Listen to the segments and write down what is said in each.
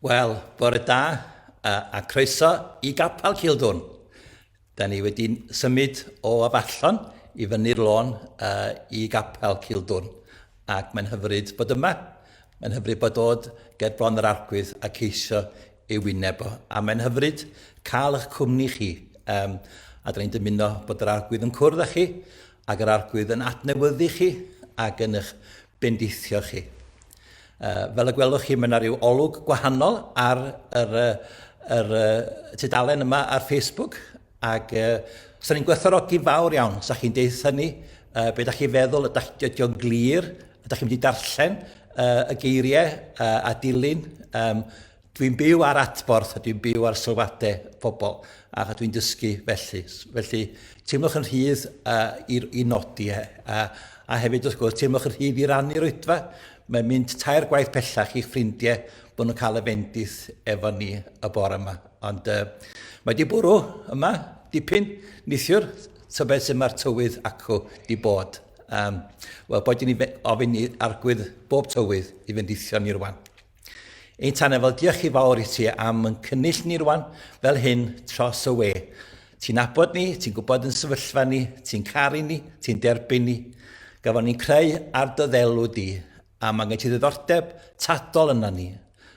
Wel, bore da a, a croeso i Gapel Cildwn. Da ni wedi symud o afallon i fyny'r lôn uh, i Gapel Cildwn ac mae'n hyfryd bod yma. Mae'n hyfryd bod dod ger bron yr arglwydd a ceisio ei wyneb o. A mae'n hyfryd cael eich cwmni chi. Um, a dyn ni'n dymuno bod yr arglwydd yn cwrdd â chi, ac yr arglwydd yn adnewyddu chi, ac yn eich bendithio chi. Uh, fel y gwelwch chi, mae yna rhyw olwg gwahanol ar yr, yr, yr tudalen yma ar Facebook, Ac uh, sa'n ni'n gwerthorogi fawr iawn, sa chi'n deud hynny, uh, beth da chi'n feddwl, ydych chi wedi o'n glir, ydych chi'n mynd i darllen uh, y geiriau uh, a dilyn. Um, dwi'n byw ar atborth, dwi'n byw ar sylwadau pobl, a dwi'n dysgu felly. Felly, teimlwch yn rhydd uh, i, i nodi, e. a, a hefyd, wrth gwrs, teimlwch yn rhydd i rannu'r oedfa. Mae'n mynd tair gwaith pellach i'ch ffrindiau bod nhw'n cael y fendith efo ni y bore yma. Ond uh, mae di bwrw yma dipyn nithiwr, tybed sy'n mae'r tywydd acw di bod. Um, Wel, bod ni'n ofyn i argwydd bob tywydd i fynd eithio ni rwan. Ein tan efo, diolch chi fawr i ti am yn cynnill ni rwan fel hyn tros y we. Ti'n abod ni, ti'n gwybod yn sefyllfa ni, ti'n caru ni, ti'n derbyn ni. Gafon ni'n creu ar dy ddelw di, A mae gen ti ddiddordeb tadol yna ni,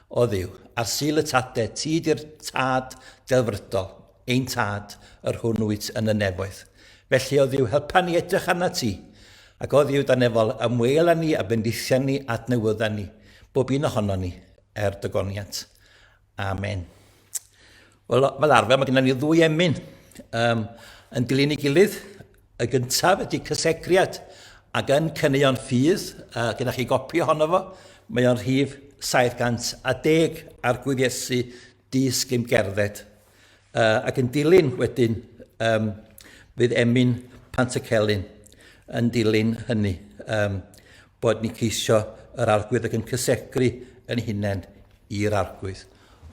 o Dduw, ar Sul y Tade, ti 'di'r Tad delfrydol, ein Tad, yr hwn wyt yn y nefoedd. Felly, o Dduw, helpa ni edrych arnat ti, ac, o Dduw, dan efol, ymwêl â ni a bendithion ni, adnewydda ni, bob un ohonon ni, er dy goniant. Amen. Wel, fel arfer, mae gennym ni ddwy emyn um, yn dilyn ei gilydd. Y gyntaf ydy cysegriad, ac yn cyneuon ffydd, uh, gyda chi gopi ohono fo, mae o'n rhif 710 ar gwyddesu di sgym gerdded. Uh, ac yn dilyn wedyn, um, fydd Emyn Pant y Celyn yn dilyn hynny, um, bod ni ceisio yr arglwydd ac yn cysegru yn hunain i'r arglwydd.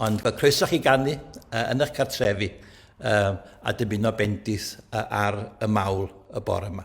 Ond mae croeso chi gannu uh, yn eich cartrefi uh, a dymuno bendith uh, ar y mawl y bore yma.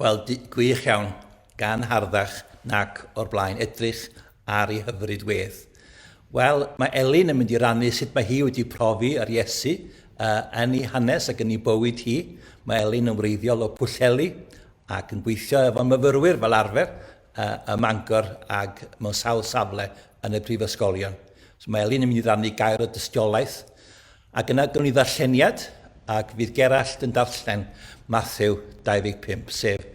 Wel, gwych iawn, gan harddach nac o'r blaen, edrych ar ei hyfryd wedd. Wel, mae Elin yn mynd i rannu sut mae hi wedi profi yr Iesu uh, yn ei hanes ac yn ei bywyd hi. Mae Elin yn wreiddiol o Pwllheli ac yn gweithio efo myfyrwyr fel arfer uh, ym Mangor ac mewn sawl safle yn y prifysgolion. So mae Elin yn mynd i rannu gair o dystiolaeth Ac yna gawn ni ddarlleniad, ac fydd Gerallt yn darllen Mathew 25, sef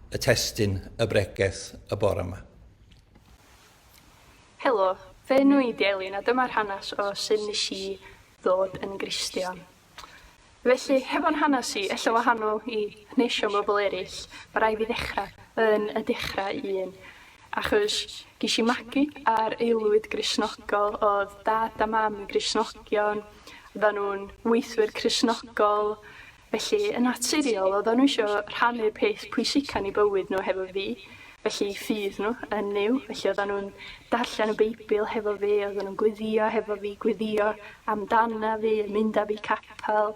y testun y bregeth y bore yma. Helo, fy enw i 'di Elin a dyma'r hanes o sut nes i ddod yn Gristion. Felly, hefo'n hanes i, ella wahanol i hanesion bobl eraill, ma' rai' fi ddechra yn y dechra un. Achos ges i magu ar aelwyd Gristnogol, oedd Dad a Mam yn Gristnogion, oeddan nhw'n weithwyr Cristnogol, felly yn naturiol oeddan nhw eisiau rhannu'r peth pwysica yn eu bywyd nhw hefo fi, felly i ffydd nhw yn Nuw, felly oeddan nhw'n darllen y Beibl hefo fi, oeddan nhw'n gweddio hefo fi, gweddio amdana fi, mynd â fi capel.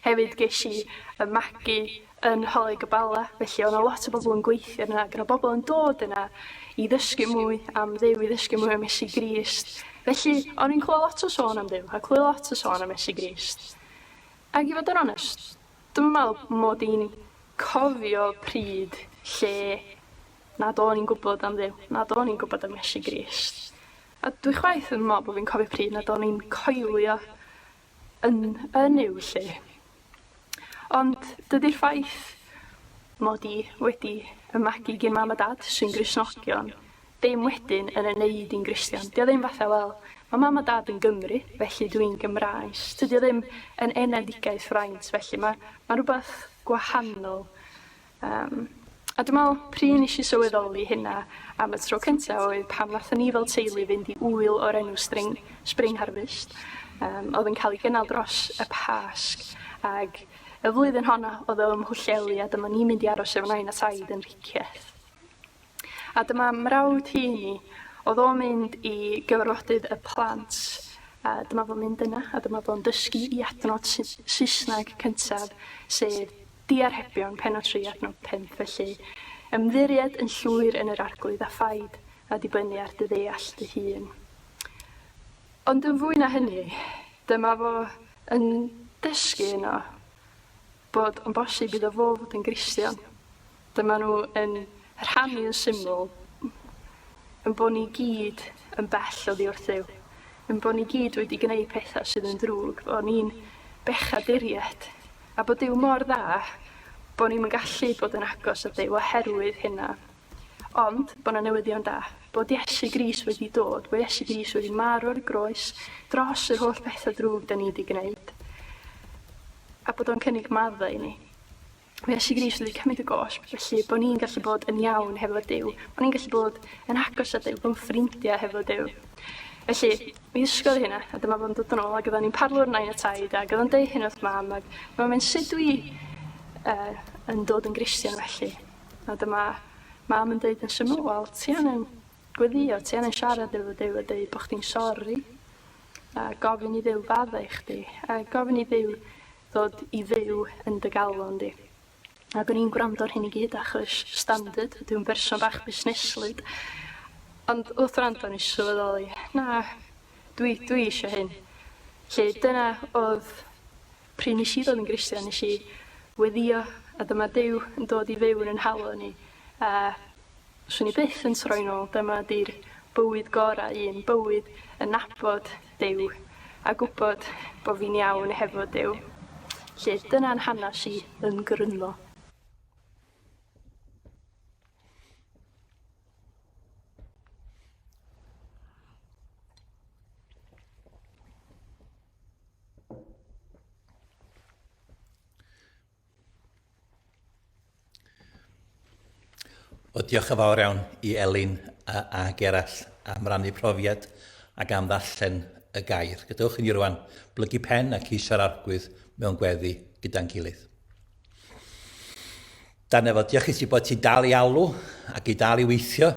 Hefyd gesh i y magu yn Nholig y Bala felly o' 'na lot o bobl yn gweithio yna ac o' 'na bobl yn dod yna i ddysgu mwy am Dduw i ddysgu mwy am Iesu Grist felly o'n i'n clywed lot o sôn am Dduw a clywed lot o sôn am Iesu Grist. Ag i fod yn onest dwi'm yn me'wl mod i'n cofio pryd lle nad o'n i'n gwbod am Dduw nad o'n i'n gwbod am Iesu Grist a dwi chwaith ddim yn me'wl bo' fi'n cofio pryd nad o'n i'n coelio yn yn i'w lle. Ond dydy'r ffaith mod i wedi y magu gin mam a dad sy'n Gristnogion ddim wedyn yn ei wneud i'n Gristion. Dio ddim fatha, wel, mae mam a dad yn Gymru, felly dwi'n Gymraes. Tydio ddim yn enedigaeth fraint, felly mae, mae rhywbeth gwahanol Yym a dwi me'wl pry' nesh i sylweddoli hynna am y tro cynta oedd pan nathon ni fel teulu fynd i ŵyl o'r enw String Spring Harvest yym o'dd yn ca'l 'i gynnal dros y Pasg ag y flwyddyn honno o'dd o ym Mhwllheli a dyma ni'n mynd i aros efo nain a taid yn Rhicyeth. A dyma mrawd Heini, oedd o'n mynd i gyfarfodydd y plant, a dyma fo'n mynd yna, a dyma fo'n dysgu i adnod Saesneg cyntaf, sef diarhebion, penod 3, adnod 5, felly ymddiried yn llwyr yn yr Arglwydd a phaid a dibynnu ar dy ddeall dy hun. Ond yn fwy na hynny, dyma fo yn dysgu yno, Bod yn bosib iddo fo fod yn Gristion. Dyma nhw yn rhannu yn syml, yn bod ni gyd yn bell oddi wrthyw, yn bod ni gyd wedi gwneud pethau sydd yn ddrwg, bod ni'n bechaduriaid, a bod Duw mor dda bod ni'n gallu bod yn agos at Duw oherwydd hynna. Ond, bo' 'na newyddion da. Bod Iesu Grist wedi dod, bo' Iesu Grist wedi marw ar y groes, dros yr holl betha drwg 'da ni 'di gneud. A bod o'n cynnig madda i ni. Bo' Iesu Grist wedi cymryd y gosb, felly bo' ni'n gallu bod yn iawn hefo Duw, bo' ni'n gallu bod yn agos at Duw, bo'n ffrindia hefo Duw. Felly, mi ddysgodd i hynna, a dyma fo'n dod yn ôl, ac oedden ni'n parlu o'r nain a taid, ac oedden deud hyn wrth mam, ac mae'n mynd, sut dwi uh, yn dod yn Gristion felly? A dyma Mam yn deud yn syml, 'Wel, ti angen gweddïo, ti angen siarad efo Duw a deud bod chdi'n sori, a gofyn i Dduw faddau i chdi, a gofyn i Dduw ddod i fyw yn dy galon di. Ac o'n i'n gwrando ar hyn i gyd achos standard, dwi'n berson bach busneslyd. Ond wrth wrando o'n i sylweddoli, na, dwi, dwi eisiau hyn. Lle dyna oedd Pryd nes i ddod yn Gristion nes i weddio a dyma Duw yn dod i fyw yn 'y nhalo ni a 'swn i byth yn troi nôl dyma 'di'r bywyd gora un bywyd yn nabod Duw a gwbod bo fi'n iawn hefo Duw. 'Lly dyna'n hanas i yn gryno. O, diolch yn fawr iawn i Elin a, a Gerall am rannu profiad ac am ddarllen y gair. Gadewch i ni rwan blygu pen ac isio'r arglwydd mewn gweddi gyda'n gilydd. Da Nefo, diolch i ti bod ti'n dal i alw ac i dal i weithio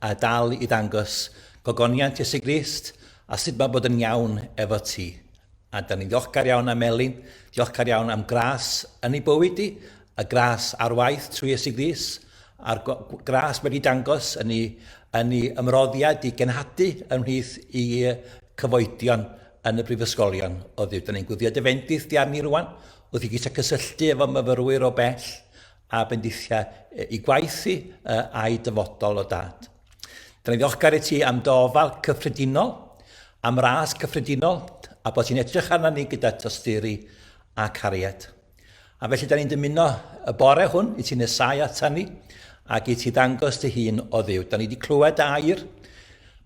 a dal i ddangos gogoniant Iesu Grist a sut mae bod yn iawn efo ti. A da ni'n ddiolchgar iawn am Elin, diolchgar iawn am gras yn ei bywyd i, y gras ar waith trwy Iesu Grist, a'r gras wedi dangos yn ei, yn ei ymroddiad i genhadu ymhlith i cyfoedion yn y brifysgolion o ddiw. Da ni'n gwyddio dy fendith di arni rwan, Wrth i Gisa gysylltu efo myfyrwyr o bell a bendithiau i gwaith hi a'i dyfodol o dad. Dyn ni'n ddiolchgar i ti am dy ofal cyffredinol, am ras cyffredinol, a bod ti'n edrych arna ni gyda tosturi a cariad. A felly da ni'n dymuno y bore hwn i ti nesau ata ni ac i ti ddangos dy hun o ddiw. Da ni wedi clywed dy air,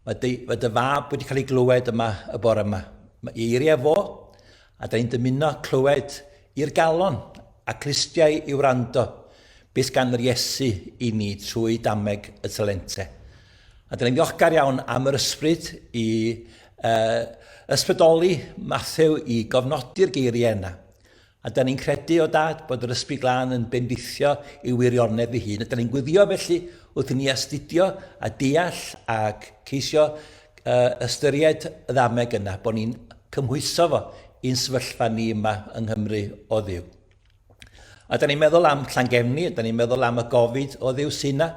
mae dy, mae dy fab wedi cael ei glywed yma y bore yma. Mae eiriau fo A da i'n dymuno clywed i'r galon a clustiau i wrando beth gan yr Iesu i ni trwy dameg y talente. A da ni'n ddiolchgar iawn am yr ysbryd i uh, ysbrydoli Mathew i gofnodi'r geiriau yna. A da ni'n credu o dad bod yr ysbryd glân yn bendithio i wirionedd fy hun. A da ni'n gwyddio felly wrth i ni astudio a deall ac ceisio uh, ystyried y ddameg yna, bod ni'n cymhwyso fo i'n sefyllfa ni yma yng Nghymru o ddiw. A da ni'n meddwl am Llangefni, da ni'n meddwl am y gofid o ddiw sy'n na,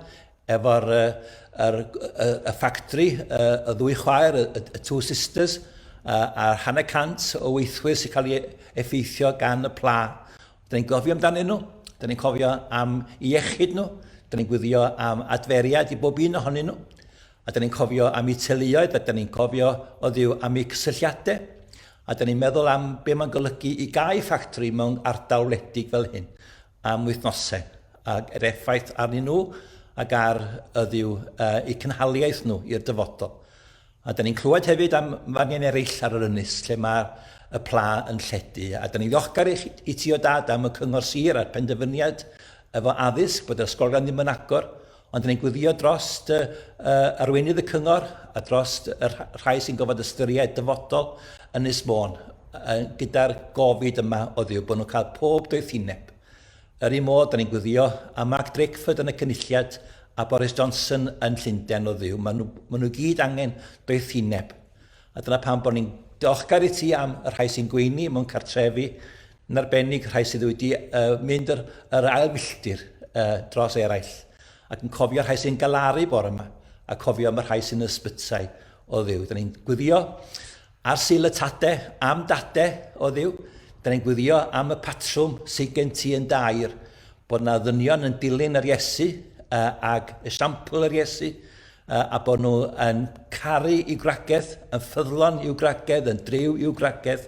efo'r uh, er, y, y ffactri, y, y ddwy chwaer, y, y Two Sisters, a'r hanner cant o weithwyr sy'n cael ei effeithio gan y pla. Da ni'n gofio amdanyn nhw, da ni'n cofio am iechyd nhw, da ni'n gwyddio am adferiad i bob un ohonyn nhw. A dan ni'n cofio am eu teuluoedd, a dan ni'n cofio oddiw am eu cysylltiadau, a dan ni'n meddwl am be mae'n golygu i gau ffactri mewn ardal wledig fel hyn am wythnosau, ac yr effaith arnyn nhw ac ar yddiw uh, eu cynhaliaeth nhw i'r dyfodol. A da ni'n clywed hefyd am fanion eraill ar yr ynys lle mae y pla yn lledu. A da ni'n ddiolchgar i, i ti o dad am y cyngor sir a'r penderfyniad efo addysg bod yr ysgolion ddim yn agor. Ond dan ni'n gweddïo dros y, y, arweinydd y cyngor a dros y rhai sy'n gofod ystyried dyfodol Ynys Môn gyda'r gofid yma o ddiw bod nhw'n cael pob doethineb. Yr un modd, dan ni'n gweddïo am Mark Drakeford yn y Cynulliad a Boris Johnson yn Llundain o ddiw. Maen nhw, maen nhw gyd angen doethineb. A dyna pam bod ni'n diolchgar i ti am y rhai sy'n gweini mewn cartrefi yn arbennig rhai sydd wedi uh, mynd yr, yr ail filltir uh, dros eraill, ac yn cofio rhai sy'n galaru bore yma, a cofio am y rhai sy'n ysbytai o ddiw. Dyna ni'n gwyddio ar syl y tade, am dade o ddiw, Dyna ni'n gwyddio am y patrwm sydd gen ti yn dair, bod yna ddynion yn dilyn yr Iesu uh, ag esiampl yr Iesu, uh, a bod nhw yn caru i'w gragedd, yn ffyddlon i'w gragedd, yn driw i'w gragedd,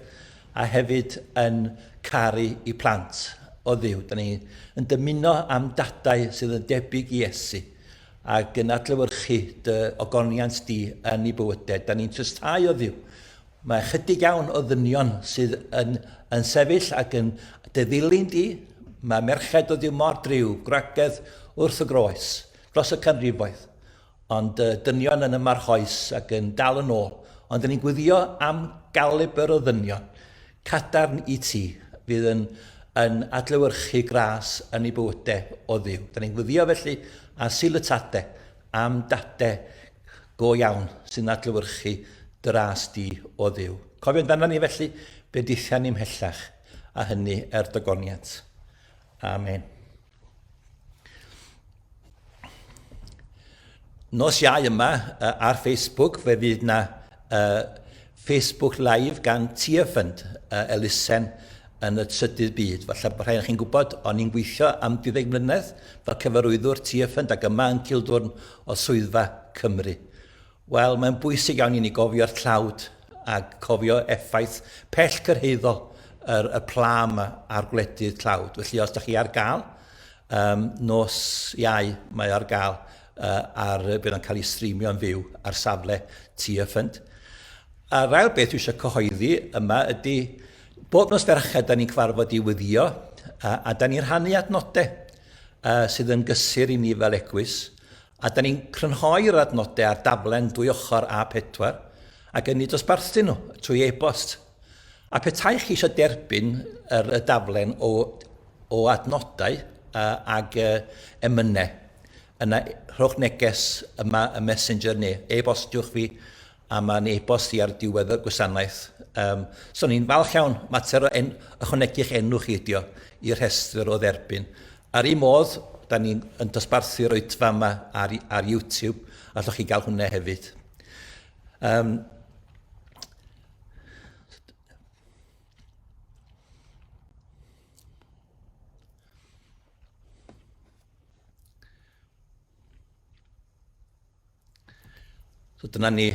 a hefyd yn caru i plant o Dduw. Da ni yn dymuno am dadau sydd yn debyg i Iesu ac yn adlewyrchu dy ogoniant di yn ei bywydau. Da ni'n trysdhau o Dduw. Mae chydig iawn o ddynion sydd yn, yn sefyll ac yn dy ddilyn di. Mae merched o Dduw mor driw, gwragedd wrth y groes, dros y canrifoedd. Ond y dynion yn y marchoes ac yn dal yn ôl. Ond ry'n ni'n gweddio am galibr o ddynion cadarn i ti fydd yn yn adlewyrchu gras yn ei bywyde o Dduw. Ry'n ni'n gweddio felly ar Sul y Tade am dade go iawn sy'n adlewyrchu dy ras di o Dduw. Cofio amdana ni felly bendithian ni mhellach a hynny er dogoniant. Amen. Nos iau yma uh, ar Facebook fe fydd na uh, Facebook Live gan Tiafund uh, elusen yn y trydydd byd. Falle bod rhaid chi'n gwybod, o'n i'n gweithio am 12 mlynedd fel cyfarwyddwr Tiafund ac yma yn Cildwrn o Swyddfa Cymru. Wel, mae'n bwysig iawn i ni gofio'r tlawd a cofio effaith pell cyrhaeddol yr, y pla yma ar gwledydd tlawd. Felly, os da chi ar gael, um, nos iau mae ar gael uh, ar, bydd o'n cael ei streamio'n fyw ar safle Tia Ffynt. A rhaid beth dwi eisiau cyhoeddi yma ydy, bob nos ferched da ni'n cyfarfod i wyddio a, a da ni'n rhannu adnodau uh, sydd yn gysur i ni fel egwys A da ni'n crynhoi'r adnodau ar daflen dwy ochr A4 ac yn eu dosbarthu nhw trwy e-bost. A petai chi eisiau derbyn yr y daflen o o adnodau uh, ag uh, emynau, yna rhowch neges yma y messenger neu e-bostiwch fi a mae'n e-bost i ar diwedd y gwasanaeth. Um, so ni'n falch iawn, mater o en, ychwanegu'ch enw chi ydio i'r rhestr o dderbyn. Ar un modd, da ni'n dosbarthu'r oedfa yma ar, ar YouTube, a allwch chi gael hwnna hefyd. Um, So dyna ni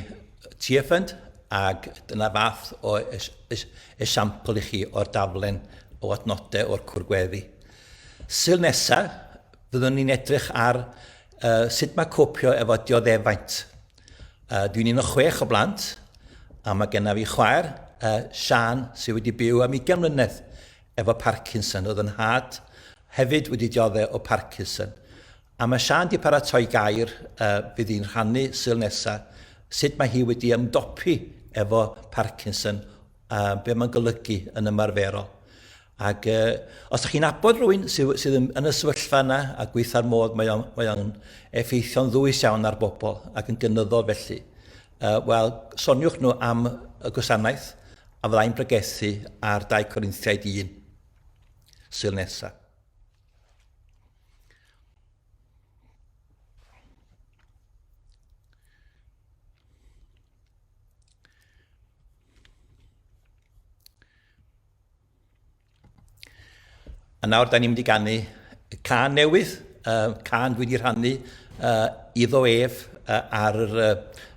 TFN ac dyna fath o es, es, esiampl i chi o'r daflen o adnodau o'r cwr gweddi. Syl nesaf, byddwn ni'n edrych ar uh, sut mae copio efo dioddefaint. Uh, dwi'n un o chwech o blant, a mae genna fi chwaer, uh, Sian, sydd wedi byw am 20 mlynedd efo Parkinson. Oedd yn had hefyd wedi dioddau o Parkinson. A mae Siân 'di paratoi gair yy fydd hi'n rhannu Sul nesa, sut mae hi wedi ymdopi efo Parkinson a be' ma'n golygu yn ymarferol. Ag yy os dach chi'n abod rhywun sy sydd yn yn y sefyllfa yna a gweitha'r modd mae o'n mae o'n effeithio'n ddwys iawn ar bobl ac yn gynyddol felly, yy wel soniwch nhw am y gwasanaeth a fyddai'n pregethu ar 2 Corinthiaid 1 Sul nesa. A nawr, da ni'n mynd i gannu can newydd, uh, can dwi wedi rhannu uh, iddo ef uh, ar, uh,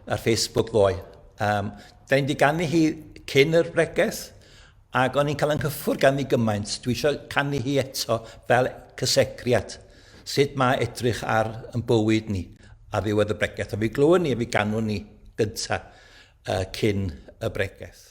ar Facebook ddoe. Um, da ni'n mynd i gannu hi cyn yr bregeth, Ac o'n i'n cael 'y nghyffwrdd ganddi gymaint, dwi isio canu hi eto fel cysegriad, sut mae edrych ar yn bywyd ni ar ddiwedd y bregeth. A fi glywed ni, a fi ganwn ni gynta uh, cyn y bregeth.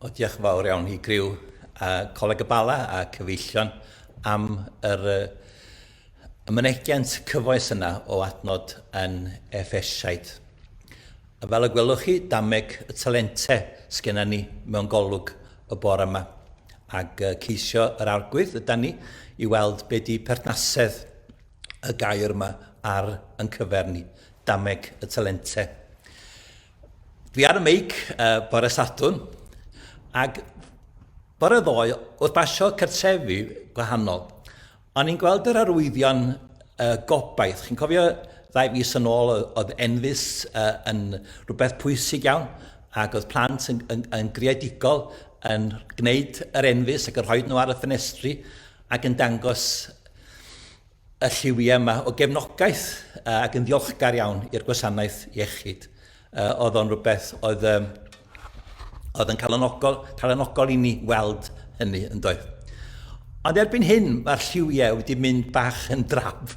O, diolch yn fawr iawn i griw a Coleg y Bala a cyfeillion am yr uh, ymynegiant cyfoes yna o adnod yn Efesiaid. Fel y gwelwch chi, dameg y talentau sgynna ni mewn golwg y bore yma. Ac uh, ceisio yr arglwydd yda ni i weld be di perthnasedd y gair yma ar yn cyfer ni, dameg y talente. Dwi ar y meic uh, bore Sadwn, ac bore ddoe, wrth basio cartrefi gwahanol, o'n i'n gweld yr arwyddion uh, gobaith. Chi'n cofio ddau fus yn ôl oedd enfus uh, yn rhywbeth pwysig iawn, ac oedd plant yn, yn, yn greadigol yn gwneud yr enfus ac yn rhoi nhw ar y ffenestri, ac yn dangos y lliwiau yma o gefnogaeth uh, ac yn ddiolchgar iawn i'r gwasanaeth iechyd. Uh, oedd o'n rhywbeth oedd, um, oedd yn calonogol, calonogol i ni weld hynny yn doedd. Ond erbyn hyn, mae'r lliwiau wedi mynd bach yn draf.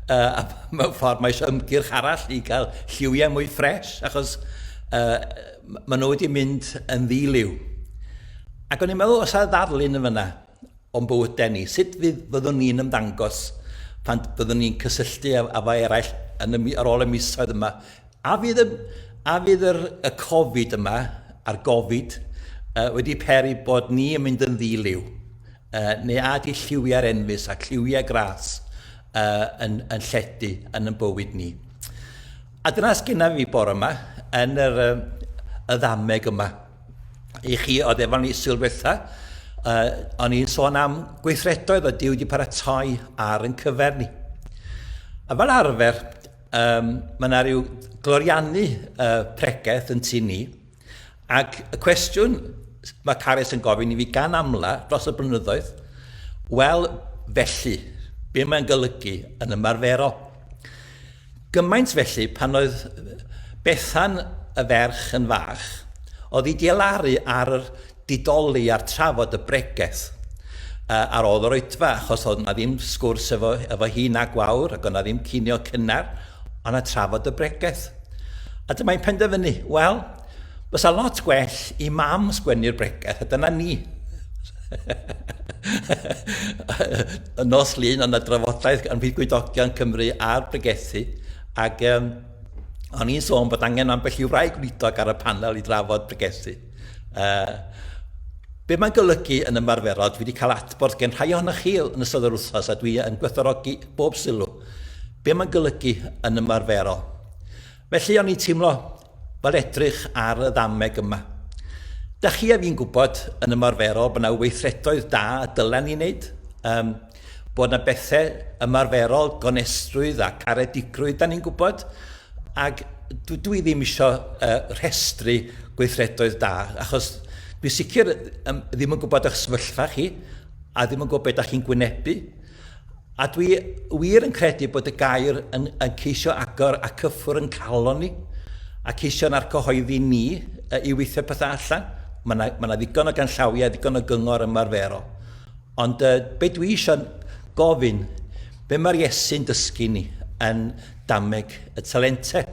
Uh, a mewn ffordd, mae eisiau ymgyrch arall i gael lliwiau mwy ffres, achos uh, maen nhw wedi mynd yn ddiliw. Ac o'n i'n meddwl, os a ddarlun yn fyna, o'n bywydau ni, sut fydd, fyddwn ni'n ymddangos pan fyddwn ni'n cysylltu â, â eraill yn y, ar ôl y misoedd yma. A fydd y, a fydd yr, y Covid yma, a'r Gofid, uh, wedi peri bod ni yn mynd yn ddiliw? Uh, neu a di lliwiau'r enfus a lliwiau gras uh, yn, yn lledu yn y bywyd ni? A dyna sgynnaf fi bore yma, yn yr, uh, y ddameg yma. i chi oedd efo ni sylwetha, uh, o'n i'n sôn am gweithredoedd o diw wedi paratoi ar yn cyfer ni. A fel arfer, um, mae yna rhyw gloriannu uh, pregeth yn tu ni, ac y cwestiwn mae Carys yn gofyn i fi gan amla dros y blynyddoedd, wel, felly, be mae'n golygu yn ymarferol? Gymaint felly, pan oedd Bethan y ferch yn fach, oedd hi 'di elaru ar yr didoli a'r trafod y bregeth yy ar ôl yr oedfa, achos oedd 'na ddim sgwrs efo efo hi na gwawr, ac oedd 'na ddim cinio cynnar, o' 'na trafod y bregeth. A dyma hi'n penderfynu, wel, Bysa lot gwell i mam sgwennu'r bregeth, a dyna ni. y nos lun yna drafodaeth yn fydd gwydogion Cymru a'r bregethu, ac um, o'n i'n sôn bod angen ambell i wraig gwydog ar y panel i drafod bregethu. Uh, Be mae'n golygu yn ymarferol, dwi wedi cael adborth gen rhai ohonoch chi yn ystod yr wythnos a dwi yn gwerthorogi bob sylw. Be mae'n golygu yn ymarferol? Felly o'n i'n teimlo fel edrych ar y ddameg yma. Da chi a fi'n gwybod yn ymarferol bod yna weithredoedd da y dylen ni wneud, um, bod yna bethau ymarferol, gonestrwydd a caredigrwydd da ni'n gwybod, ac dwi ddim eisiau uh, rhestru gweithredoedd da, achos dwi sicr um, ddim yn gwybod eich sefyllfa chi, a ddim yn gwybod beth da chi'n gwynebu, A dwi wir yn credu bod y gair yn, yn ceisio agor a cyffwr yn calon ni, a ceisio na'r cyhoeddi ni uh, i weithio pethau allan. Mae yna ma ddigon o ganllawiau, ddigon o gyngor ymarferol. Ond uh, be dwi eisiau gofyn, be mae'r Iesu'n dysgu ni yn dameg y talentau?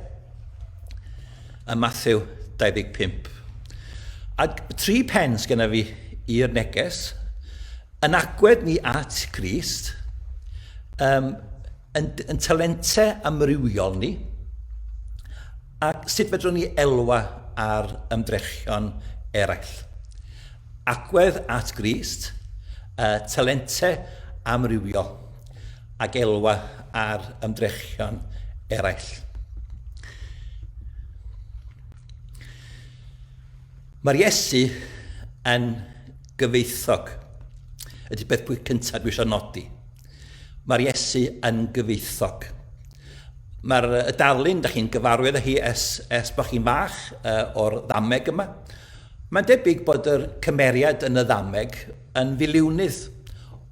Ym Matthew 25. A tri pen sgyna fi i'r neges, Yn agwedd ni at Grist, um, yn, yn talente amrywiol ni, ac sut fedrwn ni elwa ar ymdrechion eraill. Agwedd at Grist, uh, talente amrywiol, ac elwa ar ymdrechion eraill. Mae'r Iesu yn Gyfoethog ydy peth pwy cyntaf dwi eisiau nodi. Mae'r Iesu yn gyfoethog. Mae'r y darlun, da chi'n gyfarwydd â hi es, es bod chi'n fach uh, o'r ddameg yma. Mae'n debyg bod yr cymeriad yn y ddameg yn filiwnydd.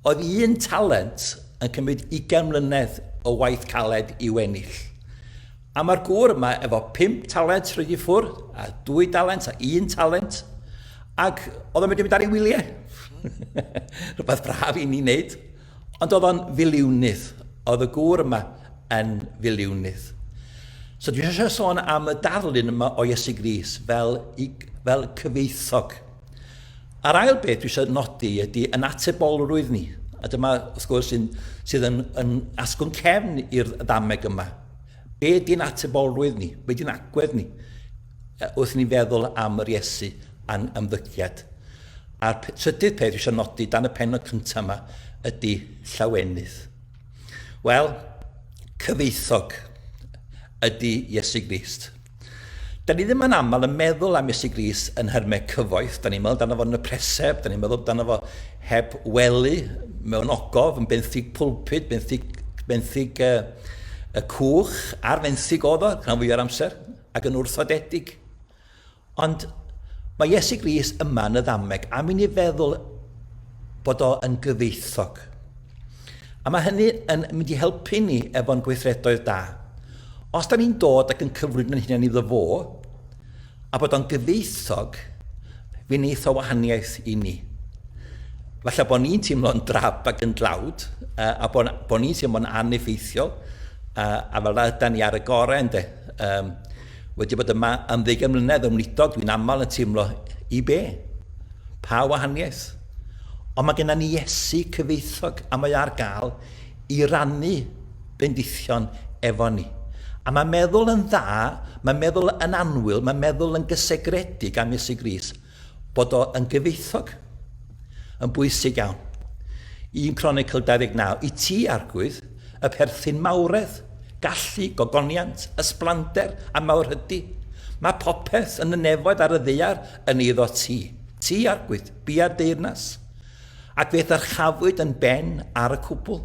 Oedd un talent yn cymryd 20 mlynedd o waith caled i'w ennill. A mae'r gŵr yma efo pump talent rhoi i ffwrdd, a dwy dalent, a un talent, ac oedd o'n mynd i mynd ar ei wyliau. Rhywbeth braf i ni wneud. Ond oedd o'n filiwnydd. Oedd y gŵr yma yn filiwnydd. So dwi eisiau sôn am y darlun yma o Iesu Gris fel, i, fel cyfeithog. A'r ail beth dwi eisiau nodi ydy yn atebolrwydd ni. A dyma, wrth gwrs, sydd yn, yn asgwrn cefn i'r ddameg yma. Be di'n atebolrwydd ni? Be di'n agwedd ni? Wrth ni'n feddwl am yr Iesu a'n ymddygiad. A'r trydydd peth eisiau nodi dan y penod cyntaf yma ydy llawenydd. Wel, cyfeithog ydy Iesu Grist. Da ni ddim yn aml yn meddwl am Iesu Grist yn nhermau cyfoeth. Da ni'n meddwl amdano fo yn y preseb, da ni'n meddwl amdano fo heb wely, mewn ogof, yn benthyg pulpud, benthyg, benthyg uh, y cwch, ar fenthyg oedd o, rhan fwy o'r amser, ac yn wrthodedig. Ond mae Iesu Grist yma yn y ddameg am i ni feddwl bod o yn gyfeithog. A mae hynny yn mynd i helpu ni efo'n gweithredoedd da. Os da ni'n dod ac yn cyflwyno ein hunain iddo fo, a bod o'n gyfeithog, fe wneith o wahaniaeth i ni. Falle bod ni'n teimlo'n drab ac yn dlawd, a bod, bod ni'n teimlo'n aneffeithiol, a, a fel yna yda ni ar y gorau, ynddo. Um, Wedi bod yma am ddeugain mlynedd yn wlithog dwi'n aml yn teimlo i be? Pa wahaniaeth? Ond mae gennym ni Iesu cyfoethog a mae ar gael i rannu bendithion efo ni. A mae meddwl yn dda, mae meddwl yn anwyl, mae meddwl yn gysegredig am Iesu Gris. bod o yn gyfoethog yn bwysig iawn. Un Cronicl 29, i ti, Arglwydd, y perthyn mawredd, gallu, gogoniant, ysblander a mawrhydi. Mae popeth yn y nefoedd ar y ddaear yn eiddo ti. Ti, Arglwydd, bia'r deyrnas, ac fe ddyrchafwyd yn ben ar y cwbl.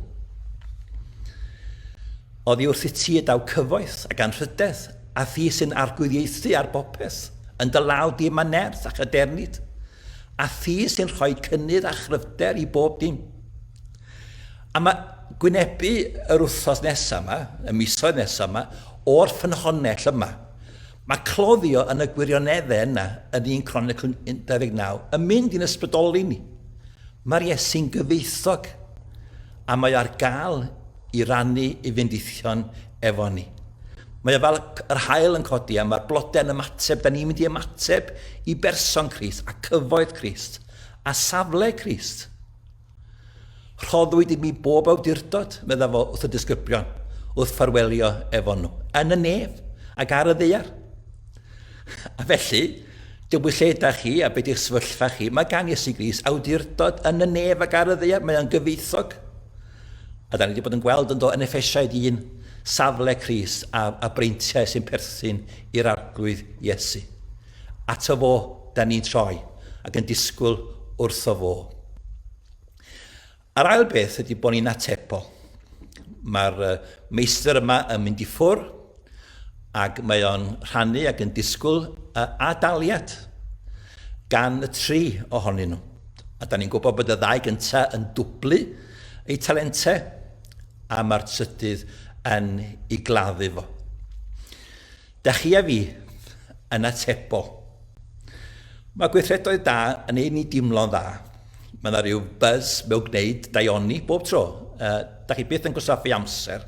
Oddi wrth i ti y daw cyfoeth ac anrhydedd A thi sy'n arglwyddiaethu ar bopeth, yn dy law di mae nerth a chadernid, a thi sy'n rhoi cynnydd a chryfder i bob dim. A mae gwynebu yr wythnos nesaf yma, y misoedd nesaf yma, o'r ffynhonnell yma. Mae cloddio yn y gwirioneddau yna yn un Cronicl 19 yn mynd i'n ysbrydoli ni. Mae'r Iesu'n gyfeithog a mae ar gael i rannu i fyndithion efo ni. Mae o fel yr haul yn codi a mae'r blodau'n ymateb. Da ni'n mynd i ymateb i berson Christ a cyfoeth Christ a safle Christ. Rhoddwyd i mi bob awdurdod, medda fo wrth y disgyblion, wrth ffarwelio efo nhw, yn y nef ac ar y ddeiar. A felly, Dyw'r lle da chi a beth yw'ch sefyllfa chi, mae gan Iesu Gris awdurdod yn y nef ac ar y ddeiar, mae o'n gyfeithog. A dan ni wedi bod yn gweld yn do yn Effesiaid un safle Cris a, a breintiau sy'n perthyn i'r Arglwydd Iesu. Ato fo dan ni'n troi ac yn disgwyl wrtho fo. A'r ail beth ydy bod ni'n atebol. Mae'r meistr yma yn mynd i ffwr, ac mae o'n rhannu ac yn disgwyl uh, ad-daliad gan y tri ohonyn nhw. A da ni'n gwybod bod y ddau gyntaf yn dwblu eu talentau a mae'r trydydd yn ei gladdu fo. Da chi a fi yn atebol. Mae gweithredoedd da yn ei ni dimlo'n dda. Mae yna rhyw buzz mewn gwneud daioni bob tro. Uh, da chi byth yn gwastraffu amser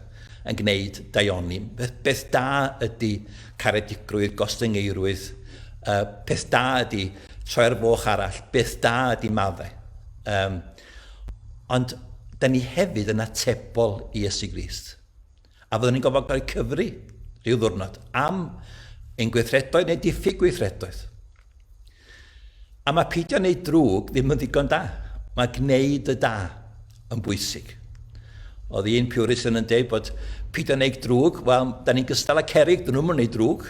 yn gwneud daioni. Beth, beth da ydy caredigrwydd, gostyngeirwydd. Uh, peth da ydy troi ar foch arall. Beth da ydy maddau. Um, ond da ni hefyd yn atebol i Iesu Grist. A fyddwn ni'n gorfod cael cyfri rhyw ddwrnod am ein gweithredoedd neu diffyg gweithredoedd? A mae peidio wneud drwg ddim yn ddigon da. Mae gwneud y da yn bwysig. Oedd un Puritan yn dweud bod peidio wneud drwg, wel, da ni'n gystal â cerig, dyn nhw'n mynd wneud drwg.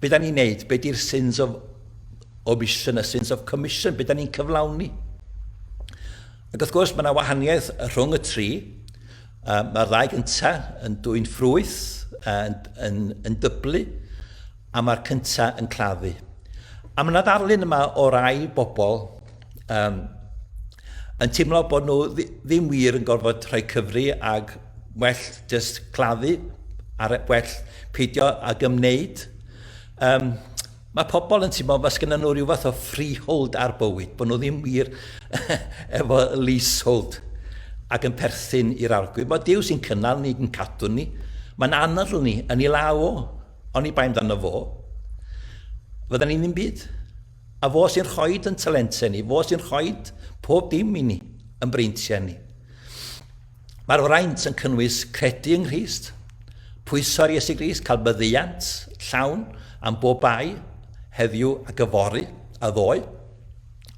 be da ni'n neud? Be di'r sins of omission a sins of commission? Be da ni'n cyflawni? Ac wrth gwrs, mae yna wahaniaeth rhwng y tri. Uh, mae'r ddau gynta yn dwy'n ffrwyth, uh, yn, yn, yn dyblu, a mae'r cynta yn claddu. A mae yna ddarlun yma o rai bobl um, yn teimlo bod nhw ddim wir yn gorfod rhoi cyfri ag well just claddu a'r well peidio ag ymwneud. Um, Mae pobl yn teimlo fel sgynnon nhw rhyw fath o freehold ar bywyd, bod nhw ddim wir efo leasehold ac yn perthyn i'r arglwydd. Mae Duw sy'n cynnal ni, yn cadw ni. Mae'n anadl ni yn ei law o. Ond i bai amdano fo, fydda ni ddim byd. A fo sy'n rhoi yn talentau ni, fo sy'n rhoi pob dim i ni, yn breintiau ni. Mae'r fraint yn cynnwys credu yng Nghrist, pwyso ar Iesu Grist, cael myddeiant llawn am bob bai heddiw ac yfory a ddoe.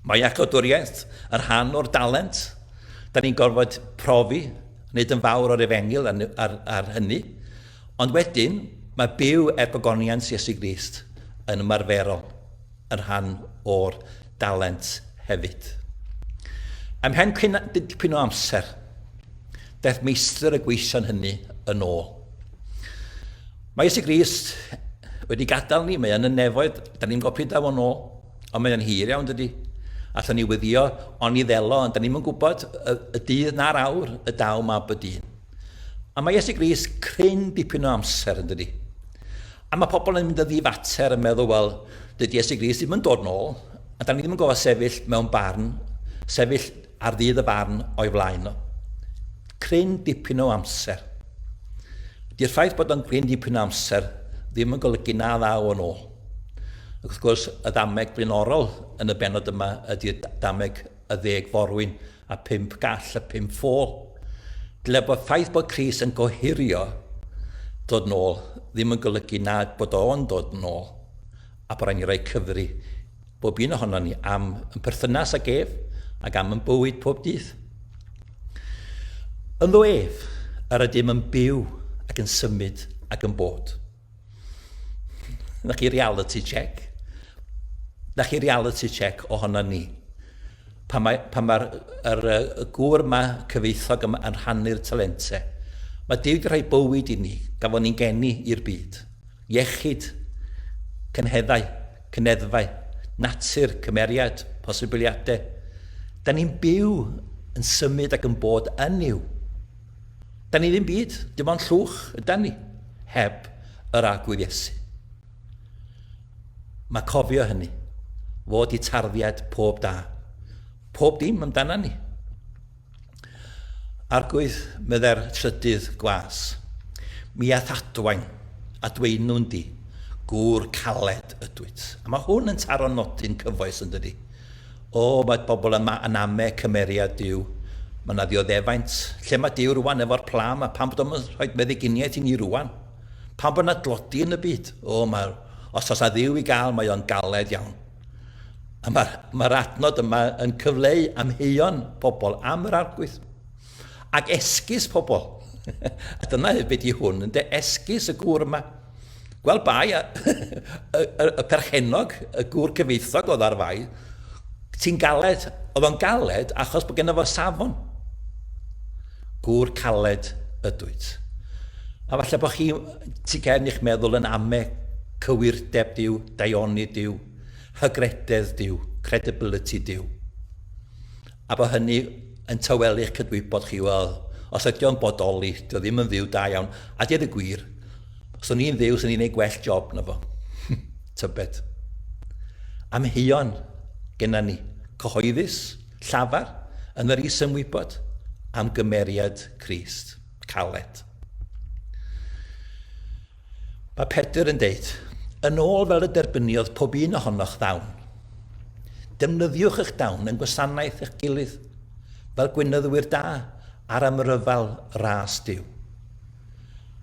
Mae acodwriaeth yn rhan o'r dalent. Da ni'n gorfod profi, wneud yn fawr o'r efengil ar, ar, ar hynny. Ond wedyn, mae byw er pagoniant Iesu Grist yn ymarferol. yn rhan o'r dalent hefyd. Ymhen dipyn o amser, daeth meistr y gweision hynny yn ôl. Mae Iesu Grist wedi gadael ni, mae yn y nefoedd, da ni'n gwybod pryd da fo'n ôl, ond mae'n hir iawn dydy. Allwn ni wyddio, ond ni ddelo, ond da ni'n mynd gwybod y, y dydd na'r awr y daw mab y dyn. A mae Iesu Grist cryn dipyn o amser yn dydy. A mae pobl yn mynd yn ddifater yn meddwl, wel, dydy Iesu Grist ddim yn dod nôl, a da ni ddim yn gofod sefyll mewn barn, sefyll ar ddydd y farn o'i flaen o. Cryn dipyn o amser. Dy'r ffaith bod o'n gryn dipyn o amser ddim yn golygu na ddaw o'n ôl. Ac wrth gwrs, y ddameg blaenorol yn y benod yma ydy'r dameg y ddeg forwyn a phump gall a phump ffôl. Dyle bod ffaith bod Chris yn gohirio dod yn ôl ddim yn golygu nad bod o yn dod yn ôl, a bod rhaid ni roi cyfri bob un ohono ni am yn perthynas ag ef ac am yn bywyd pob dydd. Ynddo ef, yr ydym yn byw ac yn symud ac yn bod. Na chi reality check. Na chi reality check ohono ni. Pan mae'r pa mae er, y gŵr yma cyfeithog yma yn rhannu'r talentau, mae Dyw wedi rhoi bywyd i ni, gafon ni'n geni i'r byd. Iechyd, cynheddau, cyneddfau, natur, cymeriad, posibiliadau. Da ni'n byw yn symud ac yn bod yn yw. Da ni ddim byd, dim ond llwch ydan ni, heb yr Arglwydd Iesu. Mae cofio hynny, fod i tarddiad pob da, pob dim amdana ni. Arglwydd, medde'r trydydd gwas, mi ath adwain a dweinwn di, gŵr caled ydwyt. A mae hwn yn taro nodyn cyfoes yn dydi. O, mae pobl yma yn ame cymeriad Duw. Mae yna ddioddefaint. Lle mae Duw rwan efo'r pla yma? Pam bod o'm yn rhoid meddyginiaeth i ni rwan? Pam bod yna dlodi yn y byd? O, mae'r... Os oes 'na Dduw i gael, mae o'n galed iawn. A mae'r mae adnod yma yn cyfleu amheuon pobl am yr Arglwydd. Ac esgus pobl. a dyna hyd beth i hwn, yn de esgus y gŵr yma. Gweld bai, a, y, y, y perchenog, y gŵr cyfeithog oedd ar fai, ti'n galed, oedd o'n galed achos bod gennym fo safon. Gŵr caled ydwyt. A falle bod chi, ti cael eich meddwl yn ame cywirdeb diw, daioni diw, hygrededd diw, credibility diw. A bo hynny yn tawelu'ch cydwybod chi, wel, os ydi o'n bodoli, dio ddim yn fyw da iawn. A deud y gwir, os o'n i'n fyw, swn i'n ei gwell job na fo. Tybed. Amheuon genna ni, cyhoeddus, llafar, yn yr is-ymwybod am gymeriad Crist. Caled. Mae Pedr yn deud, Yn ôl fel y derbyniodd pob un ohonoch ddawn. Defnyddiwch eich dawn yn gwasanaeth eich gilydd, fel gwynyddwyr da ar amryfal ras Duw.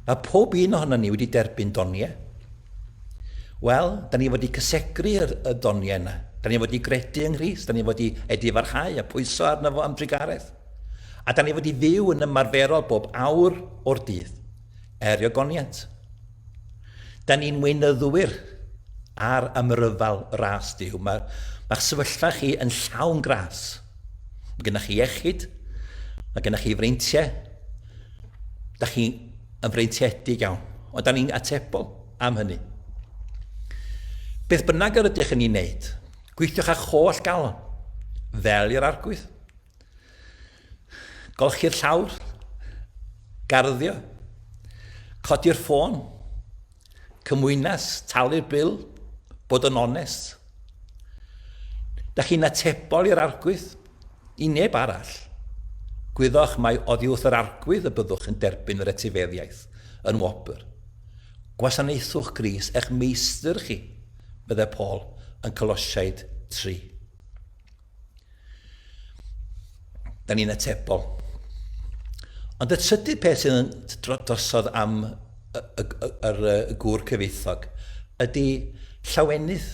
Mae pob un ohono ni wedi derbyn doniau. Wel, da ni wedi cysegru yr, y doniau yna. Da ni wedi gredu yng Nghrist, da ni wedi edifarhau a pwyso arno fo am drugaredd. A da ni wedi fyw yn ymarferol bob awr o'r dydd. Erio goniant. Da ni'n weinyddwyr ar ymryfal ras Duw. Mae, mae'ch sefyllfa chi yn llawn gras. Mae gennych chi iechyd, mae gennych chi freintiau, da chi yn freintiedig iawn, ond da ni'n atebol am hynny. Beth bynnag yr ydych yn ei wneud, gweithiwch â'ch holl galon, fel i'r arglwydd. Golchi'r llawr. Garddio. Codi'r ffôn. Cymwynas, talu'r bil, bod yn onest. Da chi'n atebol i'r argwydd, i neb arall. Gwyddoch mai oddi wrth yr argwydd y byddwch yn derbyn yr etifeddiaeth yn wobr. Gwasanaethwch Gris eich meistr chi, meddai Paul yn Colosiaid 3. Da ni'n atebol. Ond y trydydd peth sydd yn drosodd am yr gŵr cyfeithog ydy llawenydd.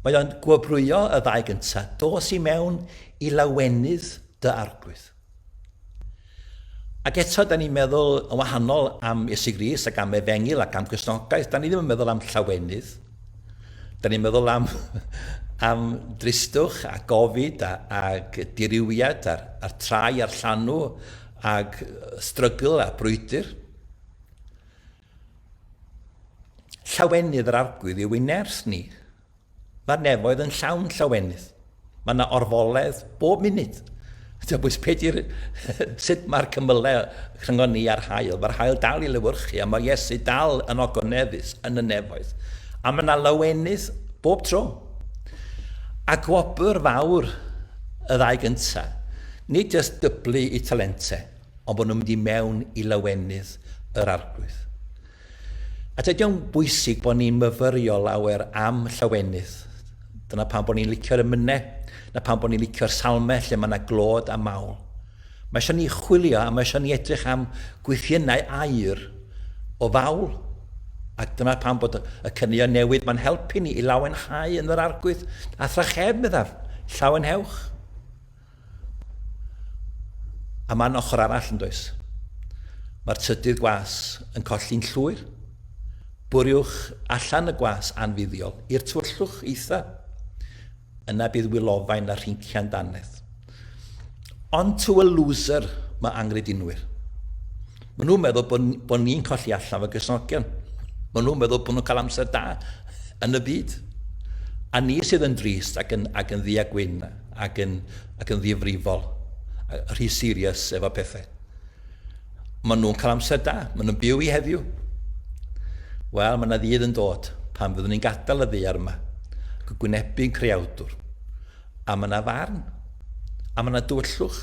Mae o'n gwobrwyo y ddau gyntaf, dos i mewn i lawenydd dy arglwydd. Ac eto, da ni'n meddwl yn wahanol am Iesu Grist ac am Efengyl ac am Gristnogaeth. Da ni ddim yn meddwl am llawenydd. Da ni'n meddwl am, am dristwch a gofid a, ag dirywiad a'r, a'r trai a'r llanw ag strygl a brwydr. Llawenydd yr arglwydd yw ei nerth ni, Mae'r nefoedd yn llawn llawenydd. Mae yna orfoledd bob munud. Tybwys pe di'r... sut mae'r cymylau rhyngon ni a'r haul. Mae'r haul dal i lewyrchu a mae Iesu dal yn ogoneddus yn y nefoedd. A mae yna lawenydd bob tro. A gwobr fawr y ddau gynta, nid jyst dyblu i talentau, ond bod nhw'n mynd i mewn i lawenydd yr Arglwydd. A tydi o'n bwysig bod ni'n myfyrio lawer am llawenydd. Dyna pam bod ni'n licio'r emynau, na pam bod ni'n licio'r salmau lle mae yna glod a mawl. Mae eisiau ni chwilio a mae eisiau ni edrych am gwythiennau aur o fawl. Ac dyna pam bod y cynnion newydd mae'n helpu ni i lawenhau yn yr arglwydd a thrachefn, meddaf, llawenhewch. A mae'n ochr arall yn does? Mae'r trydydd gwas yn colli'n llwyr. Bwriwch allan y gwas anfuddiol i'r tywyllwch eitha. Yna bydd wylofain a rhincian danedd. Ond to a loser mae anghredinwyr. Maen nhw'n meddwl bod, bod ni'n colli allan fy gysnogion. Maen nhw'n meddwl bod nhw'n cael amser da yn y byd. A ni sydd yn drist ac yn, ac yn ddi a gwyn. ac yn ac yn ddifrifol a rhy serious efo pethau. Maen nhw'n cael amser da, maen nhw'n byw i heddiw. Wel, mae yna ddydd yn dod pan fyddwn ni'n gadael y ddear yma, ac yn gwynebu'n creawdwr. A mae yna farn, a mae yna dywyllwch.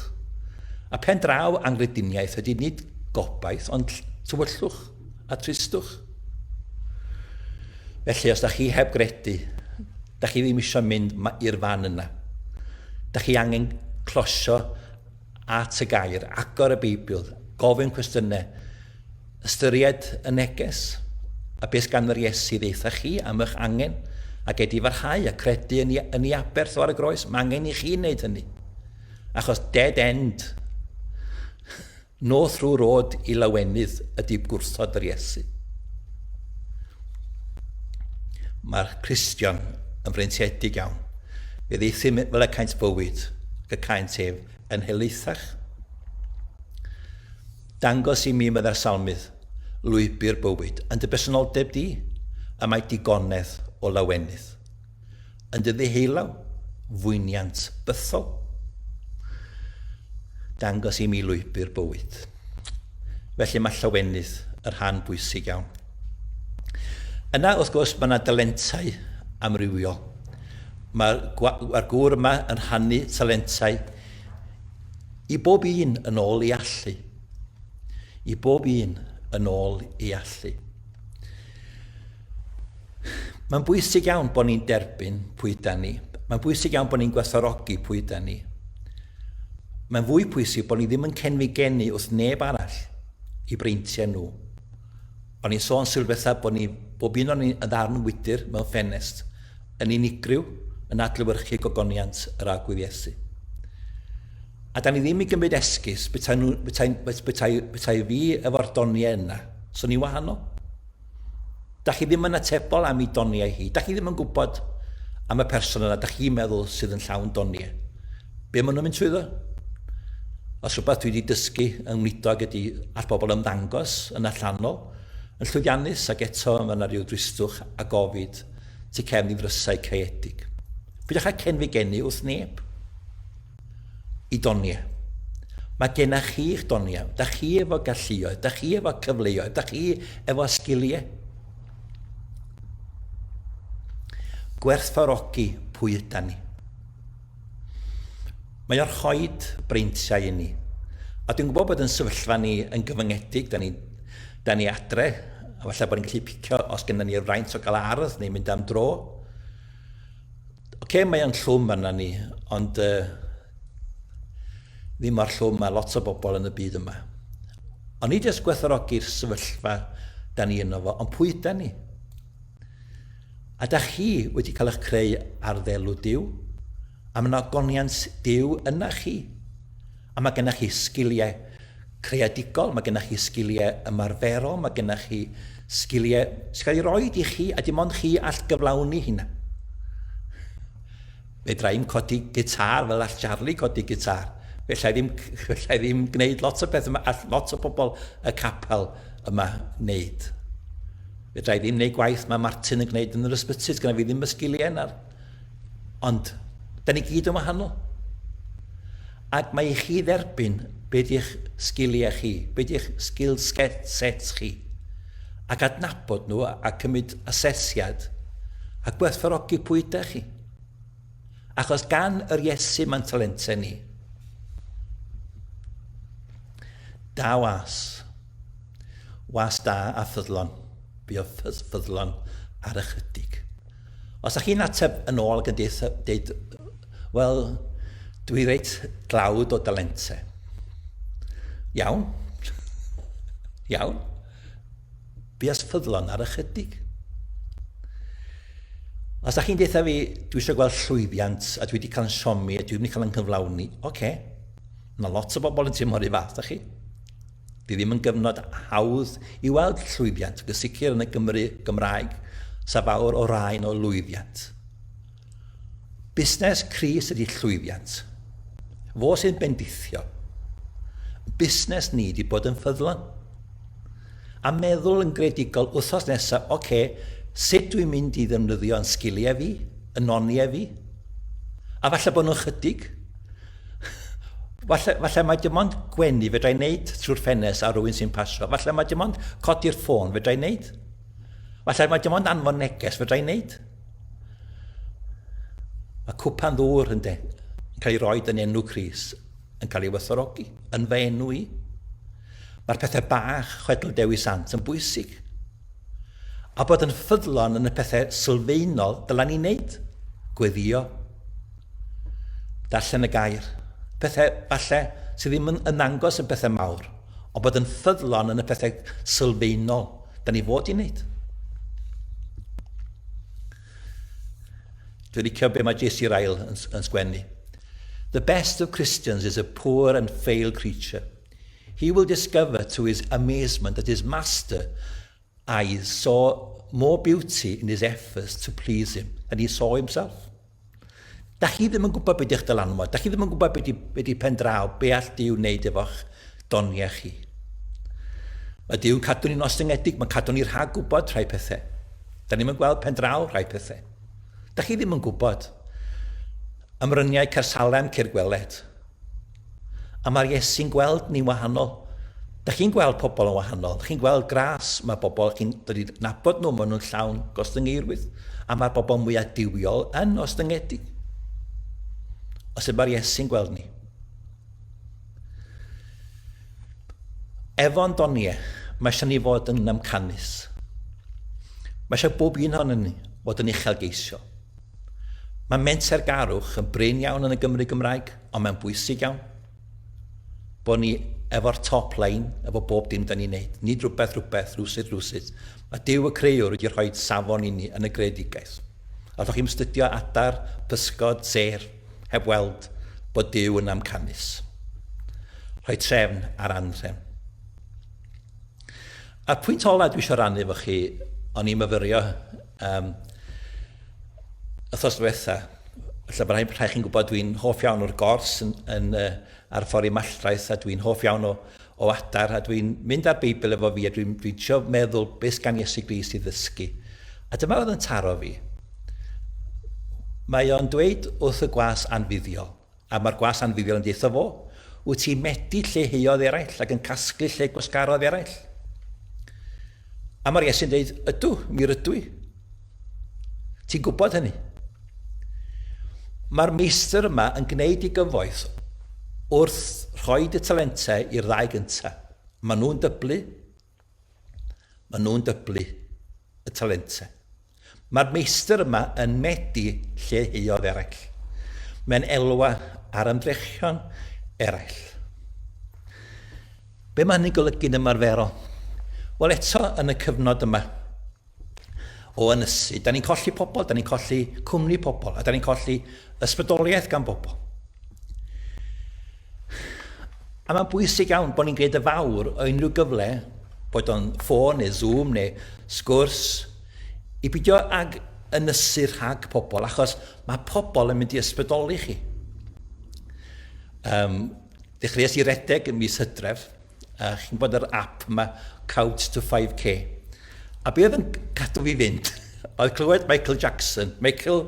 A pen draw angrediniaeth ydy nid gobaith, ond tywyllwch. a tristwch. Felly, os da chi heb gredu, da chi ddim eisiau mynd i'r fan yna. Da chi angen closio at y gair, agor y Beibl, gofyn cwestiynau, ystyried y neges, a beth gan yr Iesu ddeitha chi am eich angen, a gedi farhau a credu yn, yn ei aberth o ar y groes. Mae angen i chi wneud hynny. Achos dead end Nos rhyw rod i lawenydd ydy gwrthod yr Iesu. Mae'r Cristion yn freintiedig iawn. Fe ddeithim fel y caint bywyd, ac y caint ef yn helaethach. Dangos i mi, meddai'r salmydd, lwybr bywyd yn dy bersenoldeb di, y mae digonedd o lawenydd. Yn dy ddiheulaw, fwyniant bythol. Dangos i mi lwybr bywyd. Felly mae llawenydd y rhan bwysig iawn. Yna, wrth gwrs, mae yna dalentau amrywiol. Mae'r mae gŵr yma yn rhannu talentau i bob un yn ôl ei allu. I bob un yn ôl ei allu. Mae'n bwysig iawn bod ni'n derbyn pwy da ni. Mae'n bwysig iawn bod ni'n gwerthorogi pwy da ni. Mae'n fwy pwysig bod ni ddim yn cenfi geni wrth neb arall i breintiau nhw. O'n i'n sôn sylwetha bod ni bob un o'n ni yn ddarn wydr mewn ffenest, yn unigryw, yn adlywyrchu gogoniant yr agwedd Iesu. A da ni ddim i gymryd esgus, bethau, bethau, bethau, bethau fi efo'r doniau yna, so ni'n wahanol. Dach chi ddim yn atebol am i doniau hi. Dach chi ddim yn gwybod am y person yna, dach chi'n meddwl sydd yn llawn doniau. Be maen nhw'n mynd trwyddo? Os rhywbeth dwi wedi dysgu yng Ngwlidog ydy all bobl ymddangos yn allanol, yn llwyddiannus ac eto mae yna rhyw dristwch a gofid tu cefn i ddrysau caeedig. Pidwch â cenfigennu wrth neb. i doniau. Mae gennych chi'ch doniau, da chi efo galluoedd, da chi efo cyfleoedd, da chi efo sgiliau. Gwerthfarogi pwy yda ni. Mae o'r rhoed breintiau i ni. A dwi'n gwybod bod yn sefyllfa ni yn gyfyngedig, da ni, da ni adre, a falle bod ni'n gallu picio os gennym ni'r fraint o gael ardd neu mynd am dro. Oce, mae o'n llwm arna ni, ond uh, ddim mor llwm mae lot o bobl yn y byd yma. Ond ni jyst gwerthorogi'r sefyllfa da ni yno fo, ond pwy da ni? A da chi wedi cael eich creu ar ddelw Dyw? A mae yna ogoniant Dyw yna chi? A mae gennych chi sgiliau creadigol, mae gennych chi sgiliau ymarferol, mae gennych chi sgiliau sy'n cael ei roed i chi a dim ond chi all gyflawni hynna. Fedra i'm codi gitar fel all Charlie codi gitar. Fedra i ddim, fedra i ddim gwneud lot o beth yma, all lot o bobl y capel yma wneud. Fedra i ddim wneud gwaith mae Martin yn gwneud yn yr ysbyty, sgan fi ddim y sgiliau yna. Ond, da ni gyd yn wahanol. Ac mae i chi dderbyn be di'ch sgiliau chi, be di'ch skill sets chi, ac adnabod nhw a cymryd asesiad a gwerthfarogi pwy ydych chi. Achos gan yr Iesu mae'n talentau ni. Da was. Was da a ffyddlon. Buodd ffydd, ffyddlon ar ychydig. Os ydych chi'n ateb yn ôl ac yn deud, wel, dwi reit dlawd o dalente. Iawn. Iawn. Buodd ffyddlon ar ychydig. Os ydych chi'n deitha fi, dwi eisiau gweld llwyddiant, a dwi wedi cael yn siomi, a dwi wedi cael yn cyflawni, oce, okay. Mae lot o bobl yn teimlo'r un fath, da chi. Bydd ddim yn gyfnod hawdd i weld llwyddiant ac yn sicr yn y Gymru Gymraeg sa fawr o raen o lwyddiant. Busnes Cris ydi llwyddiant. Fo sy'n bendithio. Busnes ni di bod yn ffyddlon. A meddwl yn gredigol wthos nesa, oce, okay, sut dwi'n mynd i ddefnyddio yn sgiliau fi, yn noniau fi? A falle bod nhw'n chydig? Falle, falle mae dim ond gwenu fedra i wneud trwy'r ffenest ar rywun sy'n pasio. Falle mae dim ond codi'r ffôn fedra i wneud. Falle mae dim ond anfon neges fedra i wneud. Mae cwpan ddŵr yn de, yn cael ei roi yn enw Cris, yn cael ei werthorogi, yn fy enw i. Mae'r pethau bach, chwedl Dewi Sant, yn bwysig. A bod yn ffyddlon yn y pethau sylfaenol dylen ni wneud, gweddïo, darllen y gair, pethau falle sydd ddim yn ymangos yn pethau mawr, ond bod yn ffyddlon yn y pethau sylfaenol da ni fod i wneud. Dwi'n licio be mae JC Ryle yn, yn sgwennu. The best of Christians is a poor and frail creature. He will discover to his amazement that his master eyes saw more beauty in his efforts to please him than he saw himself. Da chi ddim yn gwybod beth ydych dylanwad, da chi ddim yn gwybod beth ydy, be ydy pen draw, be all Dyw wneud efo'ch doniau chi. Mae Dyw'n cadw ni'n ostyngedig, mae'n cadw ni rhag gwybod rhai pethau. Da ni'n mynd gweld pen draw rhai pethau. Da chi ddim yn gwybod. Ymryniau Cersalem, Ceir Gweled. A mae'r Iesu'n gweld ni'n wahanol. Da chi'n gweld pobl yn wahanol. Da chi'n gweld gras, mae bobl, chi'n dod i nabod nhw, maen nhw'n llawn gostyngeirwydd. A mae'r bobl mwyaf diwiol yn ostyngedig. O sut mae'r Iesu'n gweld ni? Efo'n donie, mae eisiau ni fod yn amcanus. Mae eisiau bob un hon yn ni fod yn uchelgeisiol. Mae mentergarwch yn brin iawn yn y Gymru Gymraeg, ond mae'n bwysig iawn bod ni efo'r top line, efo bob dim da ni'n neud. Nid rhywbeth rhywbeth, rhywsut rhywsut. Mae Duw y Creuwr wedi rhoi safon i ni yn y greadigaeth. A ddoch chi'n studio adar, pysgod, sêr, heb weld bod Duw yn amcanus. Rhoi trefn ar anrhefn. A'r pwynt ola dwi eisiau rannu efo chi, o'n i'n myfyrio Um, Ythos diwetha, felly mae rhaid, rhaid chi'n gwybod dwi'n hoff iawn o'r gors yn, yn, uh, ar ffordd i malltraeth a dwi'n hoff iawn o, o adar a dwi'n mynd ar Beibl efo fi a dwi'n dwi trio meddwl beth gan Iesu Gris i ddysgu. A dyma oedd yn taro fi. Mae o'n dweud wrth y gwas anfuddiol. A mae'r gwas anfuddiol yn deutho fo, Wyt ti'n medi lleiheuodd eraill ac yn casglu lle gwasgarodd eraill? A mae'r Iesu'n dweud, Ydw, mi rydw i. Ti'n gwybod hynny. Mae'r meistr yma yn gwneud ei gyfoeth wrth rhoi y talentau i'r ddau gyntaf. Maen nhw'n dyblu, Maen nhw'n dyblu y talentau. Mae'r meistr yma yn medi lleiheuodd eraill. Mae'n elwa ar ymdrechion eraill. Be mae hynny'n golygu'n ymarferol? Wel eto yn y cyfnod yma, o ynysu. Da ni'n colli pobl, da ni'n colli cwmni pobl, a da ni'n colli ysbrydoliaeth gan bobl. A mae'n bwysig iawn bod ni'n gwneud y fawr o unrhyw gyfle, bod o'n ffôn neu Zoom neu sgwrs, i beidio ag ynysu rhag pobl, achos mae pobl yn mynd i ysbrydoli chi. Um, dechreuais i redeg yn mis hydref, uh, chi'n gwybod yr app yma, Couch to 5K. A be oedd yn cadw fi fynd, oedd clywed Michael Jackson, Michael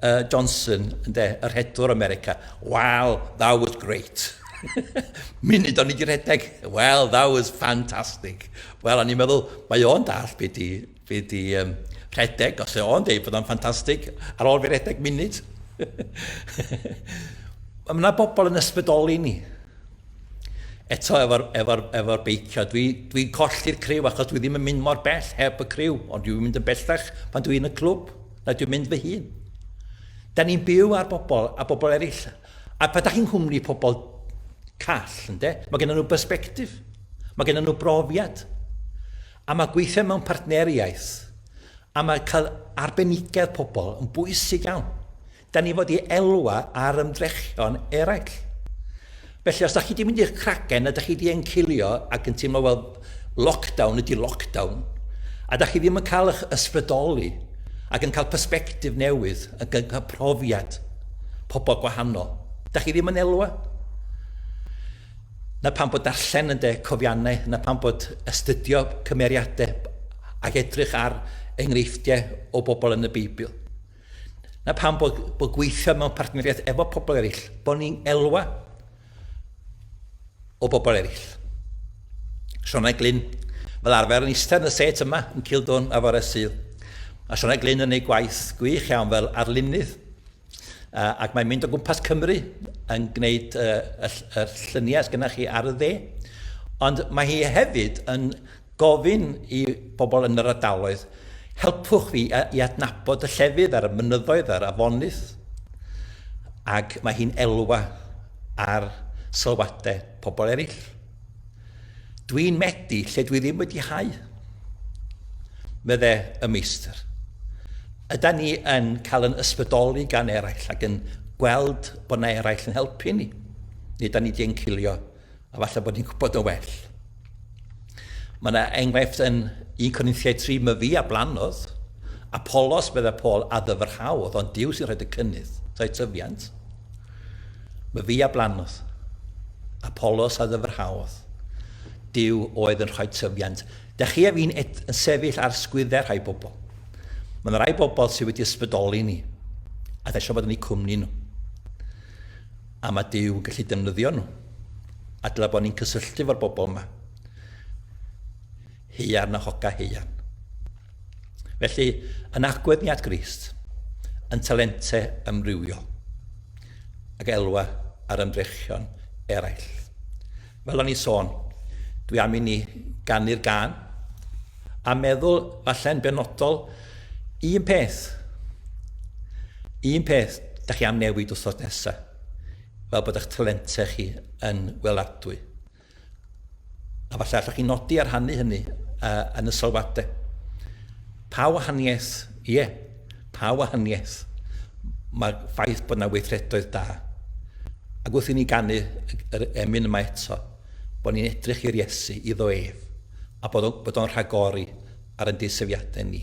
uh, Johnson, ynde, yr hedwr America. Wow, that was great. Munud o'n i wedi rhedeg, well, that was fantastic. Wel, o'n i'n meddwl, mae o'n dall beth i Fi 'di um, rhedeg, os o'n dweud bod o'n ffantastig, ar ôl fi rhedeg munud. Mae yna bobl yn ysbrydoli ni. Eto efo'r efo efo beicio, dwi'n dwi, dwi colli'r criw achos dwi ddim yn mynd mor bell heb y criw, ond dwi'n mynd yn bellach pan dwi'n y clwb, na dwi'n mynd fy hun. Da ni'n byw ar bobl a bobl eraill. A pa da chi'n nghwmni pobl call, ynddo? Mae gen nhw perspektif. Mae gen nhw brofiad. A mae gweithio mewn partneriaeth, a mae cael arbenigedd pobl yn bwysig iawn. Da ni fod i elwa ar ymdrechion eraill. Felly, os da chi di mynd i'ch cragen a da chi di encilio ac yn teimlo, wel, lockdown ydi lockdown, a da chi ddim yn cael eich ysbrydoli ac yn cael perspectif newydd, yn cael profiad pobl gwahanol, da chi ddim yn elwa. Na pam bod darllen yn de cofiannau, na pam bod astudio cymeriadau ac edrych ar enghreifftiau o bobl yn y Beibl. Na pam bod, bod gweithio mewn partneriaeth efo pobl eraill, bod ni'n elwa o bobl eraill. Siona Glyn, fel arfer yn eistedd yn y set yma yn Cildwn a fore sydd. Mae Siona Glyn yn ei gwaith gwych iawn fel arlunydd Uh, ac mae'n mynd o gwmpas Cymru yn gwneud uh, y, y lluniau sydd gennych chi ar y dde. Ond mae hi hefyd yn gofyn i bobl yn yr ardaloedd, helpwch fi i adnabod y llefydd a'r mynyddoedd a'r afonydd. Ac mae hi'n elwa ar sylwadau pobl eraill. Dwi'n methu lle dwi ddim wedi hau. Mydde y meistr. Yda ni yn cael yn ysbrydoli gan eraill ac yn gweld bod na eraill yn helpu ni. Neu da ni wedi encilio a falle bod ni'n gwybod yn well. Mae yna enghraifft yn 1 Corinthiau 3, mae fi a blanodd, Apollos, meddai Paul, a ddyfrhaodd, ond Dyw sy'n rhaid y cynnydd, rhaid tyfiant. Myfi a blannodd. Apolos a ddyfrhaodd. Duw oedd yn rhoi tyfiant. Da chi a fi'n ed yn sefyll ar sgwydde rhai bobl. Mae yna rai bobl sydd wedi ysbrydoli ni, a da eisiau bod yn eu cwmni nhw. A mae Duw yn gallu defnyddio nhw. A dylai bod ni'n cysylltu fo'r bobl yma. Haearn a Hoca Haearn. Felly, yn agwedd ni at Grist, yn talente ymrywio, ac elwa ar ymdrechion eraill. Fel o'n i'n sôn, dwi am i ni ganu'r gan, a meddwl falle'n benodol un peth. Un peth, da chi am newid wrthos nesaf, fel bod eich talente chi yn weladwy. A falle allwch chi nodi a rhannu hynny uh, yn y sylwadau. Pa wahaniaeth, ie, yeah, pa wahaniaeth mae ffaith bod yna weithredoedd da. Ac wrth i ni ganu yr emyn yma eto, bod ni'n edrych i'r Iesu, iddo ef, a bod o'n rhagori ar ein deisyfiadau ni.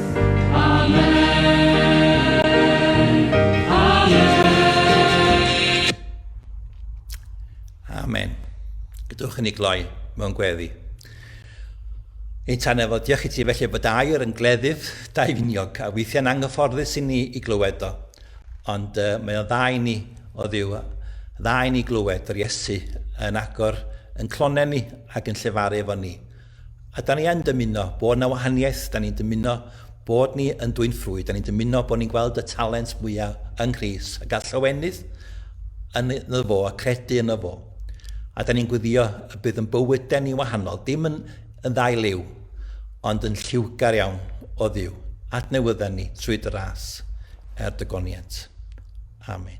Amen. Gydwch yn ei gloi mewn gweddi. Ei tan efo, diolch i ti felly bod air yn gleddyf daifiniog a weithiau'n anghyfforddus i ni i glywed o. Ond uh, mae o dda i ni o ddiw, dda i ni glywed yr Iesu yn agor yn clonau ni ac yn llefaru efo ni. A da ni yn dymuno bod yna wahaniaeth, da ni'n dymuno bod ni yn dwyn ffrwyth, da ni'n dymuno bod ni'n gweld y talent mwyaf yng Nghrist a gael llawenydd yn y fo a credu yn y fo. A da ni'n gwyddio y bydd yn bywydau ni wahanol, dim yn, yn ddau liw, ond yn lliwgar iawn o ddiw. Adnewydda ni trwy dy ras er dy goniant. Amen.